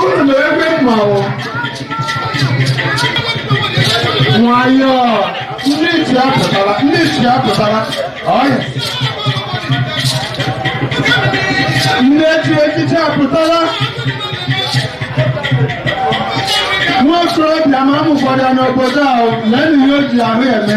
Unu nọ ebe mmanwụ. Nwayọọ, ndị isi apụtala, ndị isi apụtala. Ọya. Ndị echi echichi apụtala. Nwa okorobịa ma amụkwara n'obodo ahụ, lee na ihe o ji ahụ eme.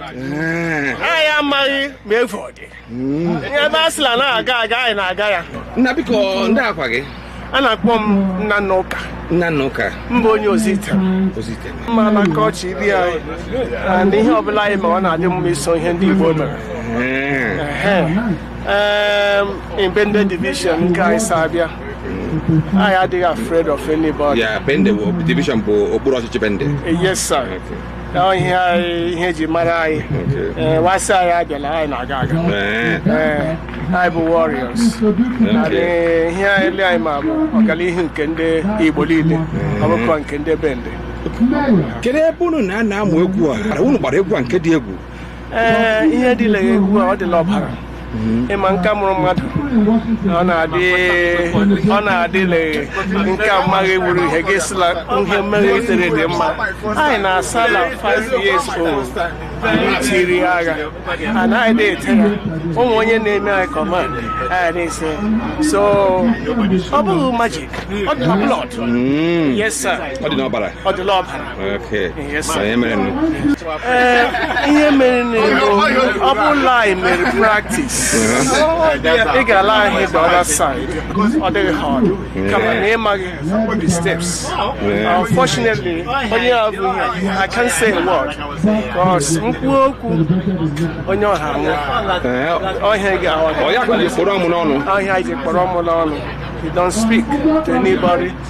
Eh. anyị amaghị ma efu ọ dị hmm. ebe a sịla na a ga-aga anyị na-aga ya nna biko ndịkwa aha gị a na-akpọ m Nnanna Ụka Nnanna Ụka m bụ onye Ozuitem ma na nke ọchị ibi anyị and ihe ọbụla anyị ma ọ na-adị mma iso ihe ndị Igbo mere eh. eh, Bende division nke anyị si abịa anyị adịghị afraid of anybody. Yeah, Bende division bụ okpuru ọchịchị Bende. Yes, sir. na ihe anyị ihe e ji mara anyị ee wa sị anyị abịala anyị na-aga agha Ee, ee anyị bụ warriors anyị ihe niile anyị ma bụ ọganihu nke ndị igbo niile ọ bụkwa nke ndị bende kedu ebe unu na-anọ amụ egwu a unu gbara egwu a nke dị egwu ee ihe dị la egwu a ọ dị la ọbara ị ma nke a mụrụ mmadụ ọ na-adị ọ na-adịle nke a mmaghị wụrụ ihe gị sịla ihe mmeghe itere dị mma anyị na-asa na 5 years old anyị tee iri agha and anyị dị ete ya o nwe onye na-eme anyị command anyị na-eso so ọ bụghị magic ọ dị na blood yes sir ọ dị n'ọbara ọ dị la ọbara ee ihe mere nụ ọ bụ la anyị mere practice ị ga-ala anyị the other side ọ dịghị hard kama na ị maghị the steps unfortunately onye a bu ihe he can't say a word because mkpu okwu onye ọha nwụ ọhịa ga-ahụ ọhịa ji kpụrụ ọmụ n'ọnụ you don't speak to anybody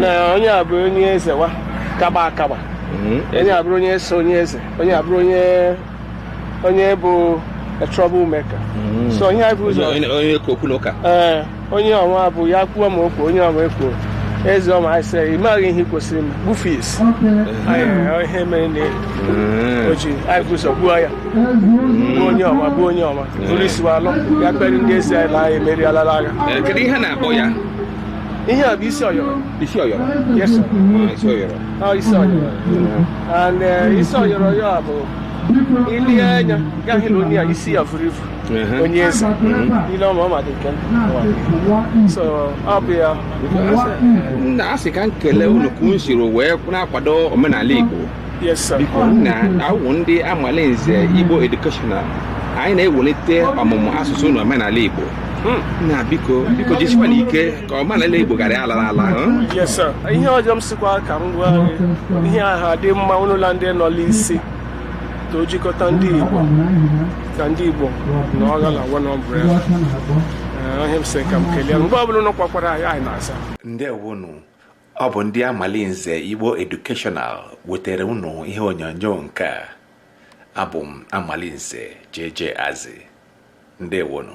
na onye a bụrụ onye eze wa kaba akaba onye a bụrụ onye so onye eze onye a bụrụ onye onye bụ a trouble maker so onye a bụ ụzọ onye ka okwu na ụka ee onye ọnwa bụ ya kwuo ma okwu onye ọnwa ekwuo eze ọma anyị sị ị maghị ihe ị kwesịrị mgbufe isi Anyị- ihe mere na o ji anyị bu ụzọ gbuo ya gbuo onye ọnwa gbuo onye ọnwa buru isi wa alọ ya kpere ndị ezi anyị na anyị emerialala agha Eh, kedu ihe a na-akpọ ya Ihe a bụ isi ọyọrọ. Isi ọyọrọ? Yes, sir. Ah, isi ọyọrọ. Ah, isi ọyọrọ. And uh, isi ọyọrọ ya bụ i lee anya ga-ahụ na onye a isi ya vuru ivu onye eze ile ọma ọ madị nke so ọ bụ ya m na-asị ka m kelee unu ka unu siri wee na-akwado omenala Igbo biko na awụ ndị amalinze igbo educational anyị na-ewelite ọmụmụ asụsụ na omenala igbo hmm. na biko biko jisikwanụ ike ka omenala igbo ghara ala n'ala ihe ọzọ m sịkwa ka m gwa ihe aha dị mma ụlọla ndị nọ n'isi ka o jikọta ndị igbo ka ndị igbo nọgha na one umbrella ihe a m sị ka m kelee mgbe ọbụla ụnụ kpọkwara anyị anyị na-asa ndewonu ọ bụ ndị amalinze igbo educational wetere unu ihe onyonyo nke a abụ m amalinze JJ Azi ndewonu